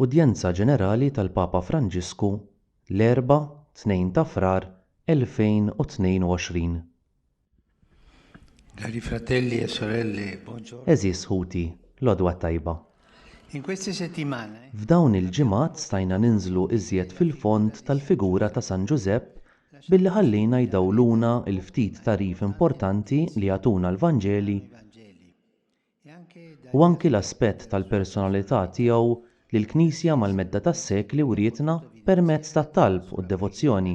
Udjenza Ġenerali tal-Papa Franġisku l-Erbgħa 2 ta' Frar 2022. Cari fratelli e sorelle, buongiorno. Għeżież ħuti, l-għodwa t-tajba. In queste settimane. F'dawn il-ġimgħat stajna ninżlu iżjed fil-fond tal-figura ta' San Ġużepp billi ħallejna jdawwluna l-ftit tagħrif importanti li jagħtuna l-Vanġeli, u anki l-aspett tal-personalità tiegħu li l-Knisja mal-medda tas-sekli wrietna permezz tat-talb u d-devozzjoni.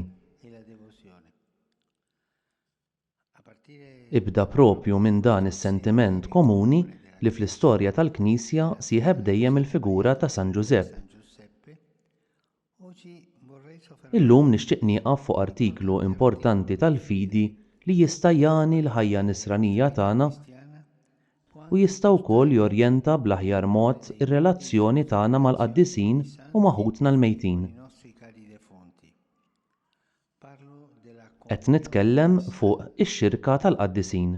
Ibda proprju minn dan is-sentiment komuni li fl-istorja tal-Knisja sieħeb dejjem il-figura ta' San Ġużepp. Illum nixtieq nieqaf fuq artiklu importanti tal-fidi li jista' jagħni l-ħajja nisranija tagħna u jista' wkoll jorjenta bl-aħjar mod ir-relazzjoni tagħna mal-qaddisin u ma' ħutna l-mejtin. Qed nitkellem fuq ix-xirka tal-qaddisin.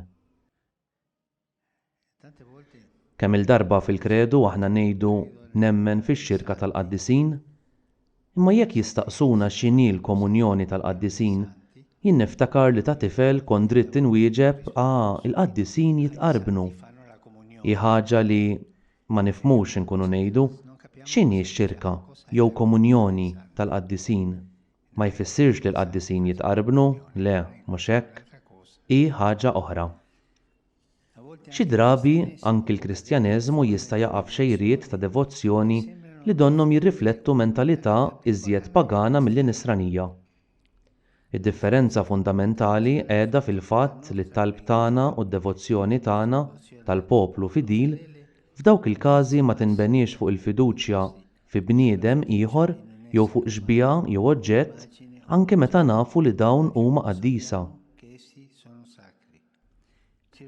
Kemm-il darba fil-Kredu aħna ngħidu nemmen fix-xirka tal-qaddisin, imma jekk jistaqsuna x'inhi l-komunjoni tal-qaddisin, jien niftakar li ta' tifel kont dritt inwieġeb ah il-qaddisin jitqarbnu. Hi ħaġa li ma nifhmux inkunu ngħidu, x'inhi x-xirka jew komunjoni tal-qaddisin? Ma jfissirx li l-qaddisin jitqarbnu, le, mhux hekk, hi ħaġa oħra. Xi drabi anki l-Kristjaneżmu jista' jaqa' f'xejriet ta' devozzjoni li donnhom jirriflettu mentalità iżjed pagana milli Nisranija. Id-differenza fundamentali qiegħda fil-fatt li t-talb tagħna u d-devozzjoni tagħna, tal-poplu fidil, f'dawk il-każi ma tinbeniex fuq il-fiduċja fi bniedem ieħor jew fuq xbieha jew oġġett, anke meta nafu li dawn huma qaddisa.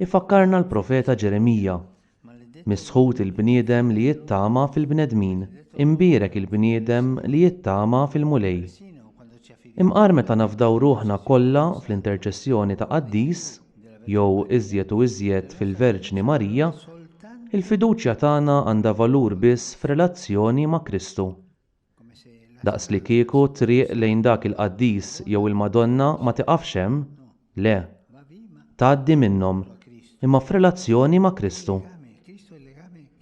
Ifakkarna l-profeta Ġeremija, Misħut il-bniedem li jittama fil-bnedmin, imbierek il-bniedem li jittama fil-Mulej. Imqar meta nafdaw ruħna kollha fl-interċessjoni ta' qaddis, jew iżjed u iżjed fil-Verġni Marija, il-fiduċja tagħna għandha valur biss f'relazzjoni ma' Kristu. Daqslikieku t-triq lejn dak il-qaddis jew il-Madonna ma tiqafx hemm, le, tgħaddi minnhom, imma f'relazzjoni ma' Kristu.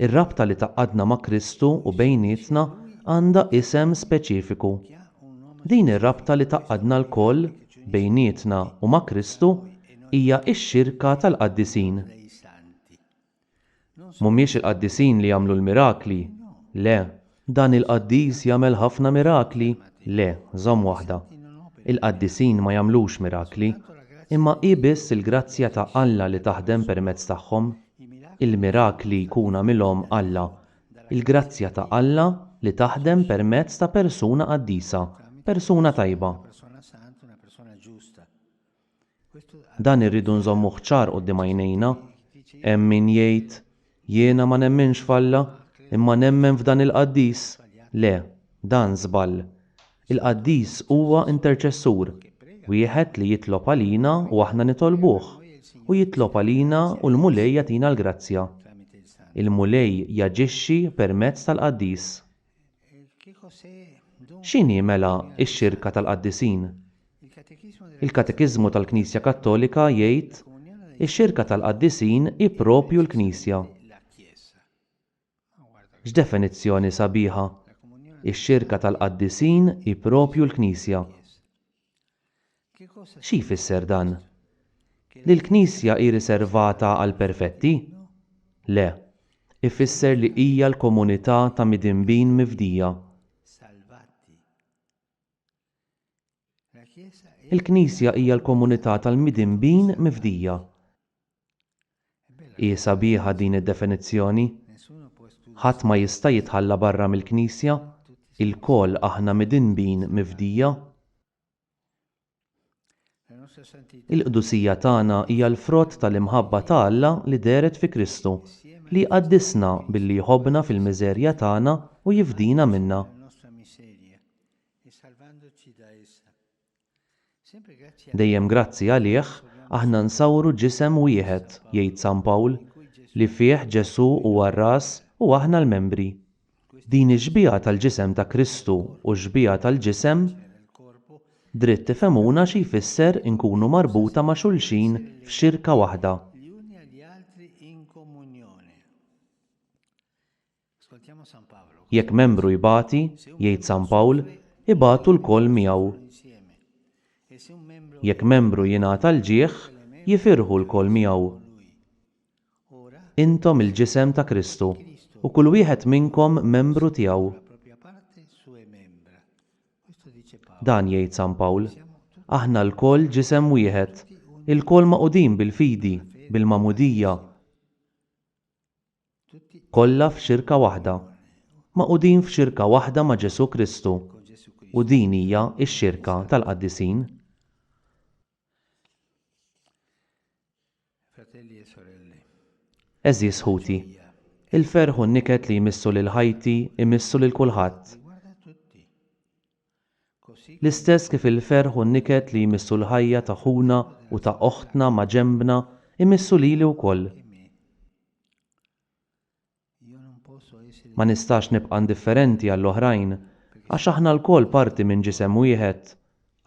Ir-rabta li tgħaqqadna ma' Kristu u bejnietna għandha isem speċifiku. Din ir-rabta li tgħaqqadna lkoll, bejnietna u ma' Kristu hija x-xirka tal-qaddisin. Mhumiex il-qaddisin li jagħmlu l-mirakli, le. Dan il-qaddis jagħmel ħafna mirakli, le, żomm waħda. Il-qaddisin ma jagħmlux mirakli, imma hi biss il-grazzja ta' Alla li taħdem permezz tagħhom. Il-mirakli jkun għamilhom Alla Il-grazzja ta' Alla li taħdem permezz ta' persuna qaddisa, persuna tajba. Dan irridu nżommuh ċar quddiem għajnejna. Hemm min jgħid, Jiena ma nemminx f'Alla, imma nemmen f'dan il-qaddis. Le, dan żball. Il-qaddis huwa interċessur, wieħed li jitlob għalina u aħna nitolbuh, u jitlob għalina u l-Mulej jagħtina l-grazzja. Il-Mulej jaġixxi permezz tal-qaddis. X'inhi, mela, ix-xirka tal-qaddisin? Il-Katekiżmu tal-Knisja Kattolika jgħid, Ix-xirka tal-qaddisin hi proprju l-Knisja. X'definizzjoni sabiħa! Ix-xirka tal-qaddisin hi proprju l-Knisja. Xi jfisser dan? Li l-Knisja hi riservata għall-perfetti? Le, ifisser li hija l-komunità ta' midinbin mifdija. Il-Knisja hija l-komunità tal-midinbin mifdija. Hi sabiħa din id-definizzjoni. Ħadd ma jista' jitħalla barra mill-Knisja, ilkoll aħna midinbin mifdija. Il-qdusija tagħna hija l-frott tal-imħabba ta' Alla li dehret fi Kristu, li jqaddisna billi jħobbna fil-miżerja tagħna u jifdina minnha. Dejjem grazzi għalih, aħna nsawru ġisem wieħed, jgħid San Pawl, li fih Ġesù huwa r-ras u aħna l-membri. Din ix-xbieha tal-ġisem ta' Kristu u x-xbieha tal-ġisem dritt tifhemuna xi jfisser inkunu marbuta ma' xulxin f'xirka waħda. Jekk membru jbati, jgħid San Pawl, ibatu lkoll miegħu. Jekk membru jingħata l-ġieħ, jifirħu lkoll miegħu. Intom il-Ġisem ta' Kristu, u kull wieħed minnkom membru tiegħu. Dan jgħid San Pawl, Aħna lkoll ġisem wieħed, ilkoll magħqudin bil-fidi, bil-magħmudija, kollha f'xirka waħda, magħqudin f'xirka waħda ma' Ġesù Kristu, u din hija x-xirka tal-qaddisin. Għeżież ħuti, il-ferħ u n-niket li jmissu lil ħajti jmissu lil kulħadd. L-istess kif il-ferħ u n-niket li jmissu l-ħajja ta' ħuna u ta' oħtna maġenbna jmissu lili wkoll. Ma nistax nibqa' indifferenti għall-oħrajn, għax aħna lkoll parti minn ġisem wieħed,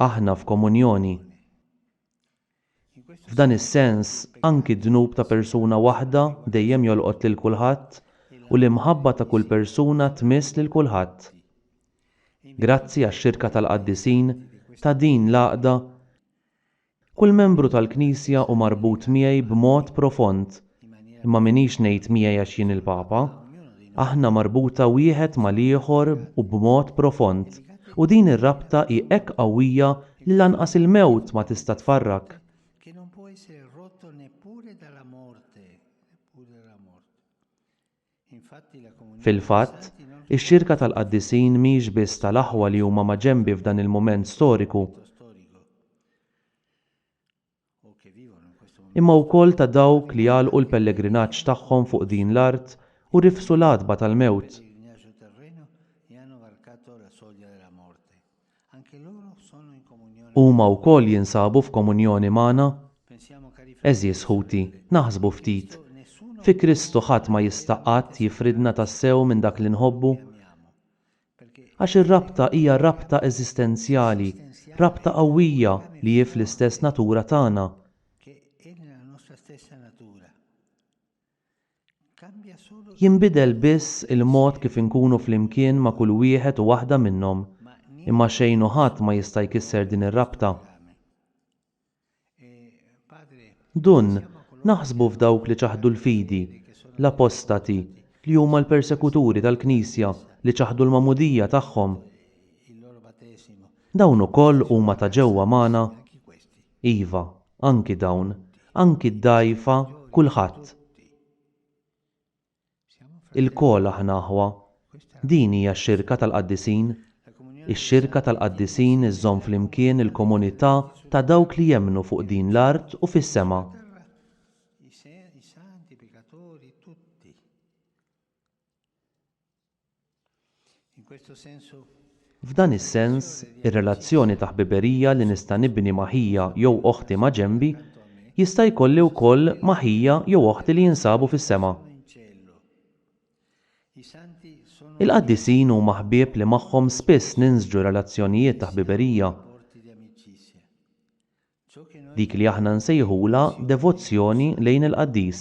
aħna f'komunjoni. F'dan is-sens, anki d-dnub ta' persuna waħda dejjem jolqot lil kulħadd u l-imħabba ta' kull persuna tmiss lil kulħadd. Grazzi għax-xirka tal-qaddisin, ta' din l-għaqda, Kull membru tal-Knisja hu marbut miegħi b'mod profond. Imma m'iniex ngħid miegħi għax jien il-Papa. Aħna marbuta wieħed mal-ieħor u b'mod profond, u din ir-rabta hi hekk qawwija li lanqas il-mewt ma tista' tfarrak. Fil-fatt, ix-xirka tal-qaddisin mhix biss tal-aħwa li huma maġenbi f'dan il-mument storiku, imma wkoll ta' dawk li għalqu l-pellegrinaġġ tagħhom fuq din l-art u rifsu l-għatba tal-mewt. Huma wkoll jinsabu f'komunjoni magħna? Għeżież ħuti, naħsbu ftit, fi Kristu ħadd ma jista' qatt jifridna tassew minn dak li nħobbu. Għax ir-rabta hija rabta eżistenzjali, rabta qawwija li hi fl-istess natura tagħna. Jinbidel biss il-mod kif inkunu flimkien ma' kull wieħed u waħda minnhom, imma xejn u ħadd ma jista' jkisser din ir-rabta. Dun, naħsbu f'dawk li ċaħdu l-fidi, l-apostati, li huma l-persekuturi tal-Knisja li ċaħdu l-magħmudija tagħhom. Dawn ukoll huma ta' ġewwa magħna? Iva, anki dawn, anki d-dgħajfa, kulħadd. Ilkoll aħna aħwa. Din hija x-xirka tal-qaddisin. Ix-xirka tal-qaddisin iżżomm flimkien il-komunità ta' dawk li jemmnu fuq din l-art u fis-sema. F'dan is-sens, ir-relazzjoni ta' ħbiberija li nista' nibni ma' ħija jew oħti maġenbi, jista' jkolli wkoll ma' ħija jew oħti li jinsabu fis-sema. Il-qaddisin huma ħbieb li magħhom spiss ninsġu relazzjonijiet ta' ħbiberija. Dik li aħna nsejħulha devozzjoni lejn il-qaddis.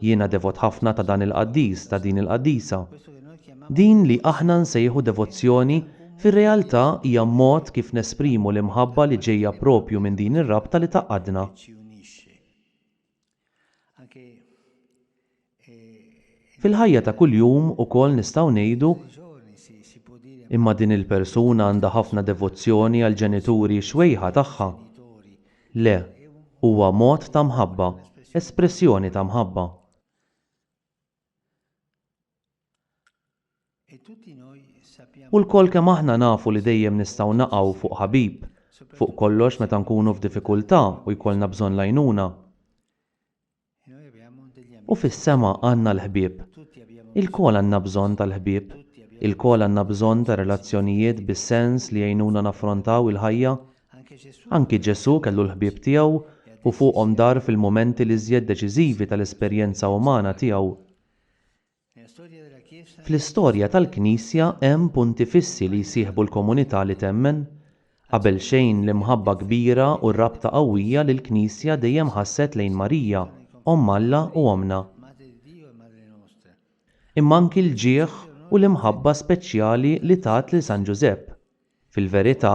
Jiena devot ħafna ta' dan il-qaddis, ta' din il-qaddisa. Din li aħna nsejħu devozzjoni fir-realtà hija mod kif nesprimu l-imħabba li ġejja proprju minn din ir-rabta li tgħaqqadna. Fil-ħajja ta' kuljum ukoll nistgħu ngħidu, Imma din il-persuna għandha ħafna devozzjoni għall-ġenituri xwejħa tagħha. Le, huwa mod ta' mħabba, espressjoni ta' mħabba. U lkoll kemm aħna nafu li dejjem nistgħu naqgħu fuq ħabib, fuq kollox meta nkunu f'diffikultà u jkollna bżonn l-għajnuna. U fis-sema għandna l-ħbieb. Ilkoll għandna bżonn tal-ħbieb. Ilkoll għandna bżonn ta' relazzjonijiet bis-sens li jgħinuna naffrontaw il-ħajja Anki Ġesù kellu l-ħbieb tiegħu u fuqhom dar fil-mumenti l-iżjed deċiżivi tal-esperjenza umana tiegħu. Fl-istorja tal-Knisja hemm punti fissi li jsieħbu l-komunità li temmen. Qabel xejn l-imħabba kbira u r-rabta qawwija li l-Knisja dejjem ħasset lejn Marija, Omm Alla u Ommna. Imma anki l-ġieħ u l-imħabba speċjali li tat lil San Ġużepp. Fil-verità,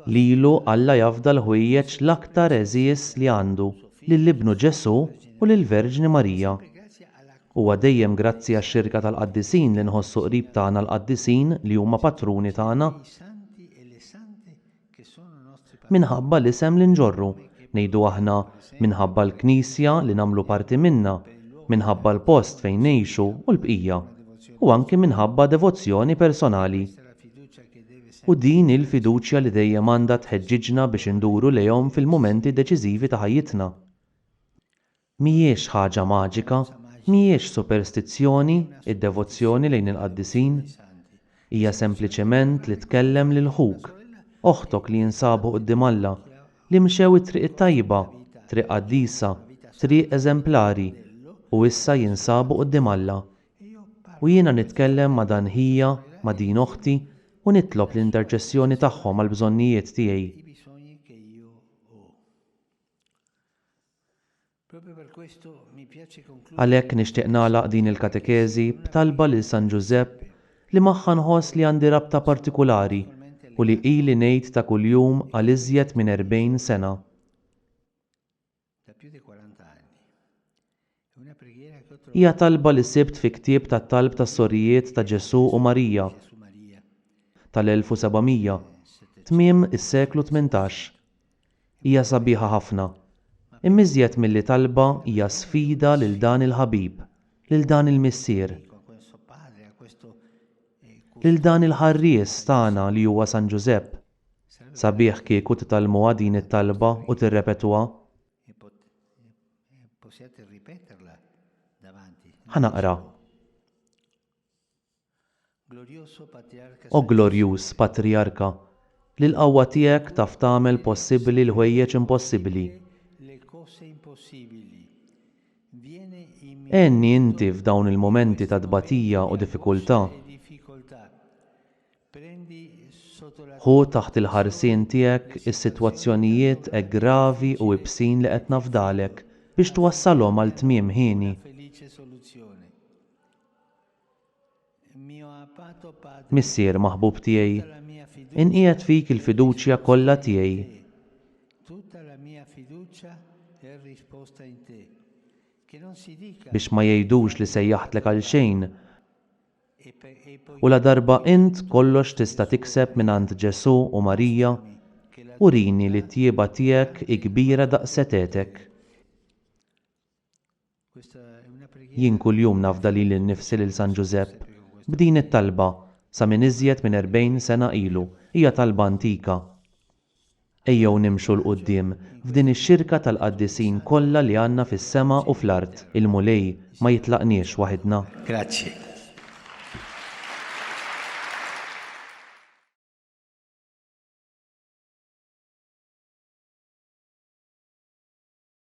lilu Alla jafda l-ħwejjeġ l-aktar għeżież li għandu, lil Ibnu Ġesù u lill-Verġni Marija. Huwa dejjem grazzi għax-xirka tal-qaddisin li nħossu qrib tagħna l-qaddisin li huma patruni tagħna. Minħabba l-isem li nġorru, ngħidu aħna, minħabba l-Knisja li nagħmlu parti minnha, minħabba l-post fejn ngħixu u l-bqija, u anki minħabba devozzjoni personali. U din hi l-fiduċja li dejjem għandha tħeġġiġna biex induru lejhom fil-mumenti deċiżivi ta' ħajjitna. Mhijiex ħaġa maġika, mhijiex superstizzjoni d-devozzjoni lejn il-qaddisin. Hija sempliċement li tkellem lil ħuk, oħtok li jinsabu quddiem Alla, li mxew it-triq it-tajba, triq qaddisa, triq eżemplari, u issa jinsabu quddiem Alla. U jiena nitkellem ma' dan ħija, ma' din oħti, u nitlob l-interċessjoni tagħhom għall-bżonnijiet tiegħi. Għalhekk nixtieq nagħlaq din il-katekeżi b'talba lil San Ġużepp li magħha nħoss li għandi rabta partikulari u li ili ngħid ta' kuljum għal iżjed minn erbgħin sena. Hija talba li sibt fi ktieb tat-talb tas-Sorijiet ta' Ġesù u Marija tal-1700, tmiem is-seklu tmintax. Hija sabiħa ħafna. Imma iżjed milli talba hija sfida lil dan il-ħabib, lil dan il-Missier, lil dan il-ħarries tagħna li huwa San Ġużepp. Sabiħ kieku titgħallmuha din it-talba u tirrepetuha. Ħa naqra. O glorjuż Patrijarka, li l-qawwa tiegħek taf tagħmel possibbli l-ħwejjeġ impossibbli, għenni inti f'dawn il-mumenti ta' tbatija u diffikultà. Ħu taħt il-ħarsien tiegħek is-sitwazzjonijiet hekk gravi u ibsin li qed nafdalek biex twassalhom għal tmiem hieni. Missier maħbub tiegħi, inqiegħed fik il-fiduċja kollha tiegħi. Biex ma jgħidux li sejjaħtlek għalxejn. U ladarba int kollox tista' tikseb mingħand Ġesù u Marija, urini li t-tjieba tiegħek hi kbira daqs setgħetek. Jien kuljum nafda lili nnifsi lil San Ġużepp b'din it-talba sa minn iżjed minn erbgħin sena ilu, hija talba antika. Ejjew nimxu 'l quddiem f'din ix-xirka tal-qaddisin kollha li għandna fis-sema u fl-art. Il-Mulej ma jitlaqniex waħidna. Grazzi.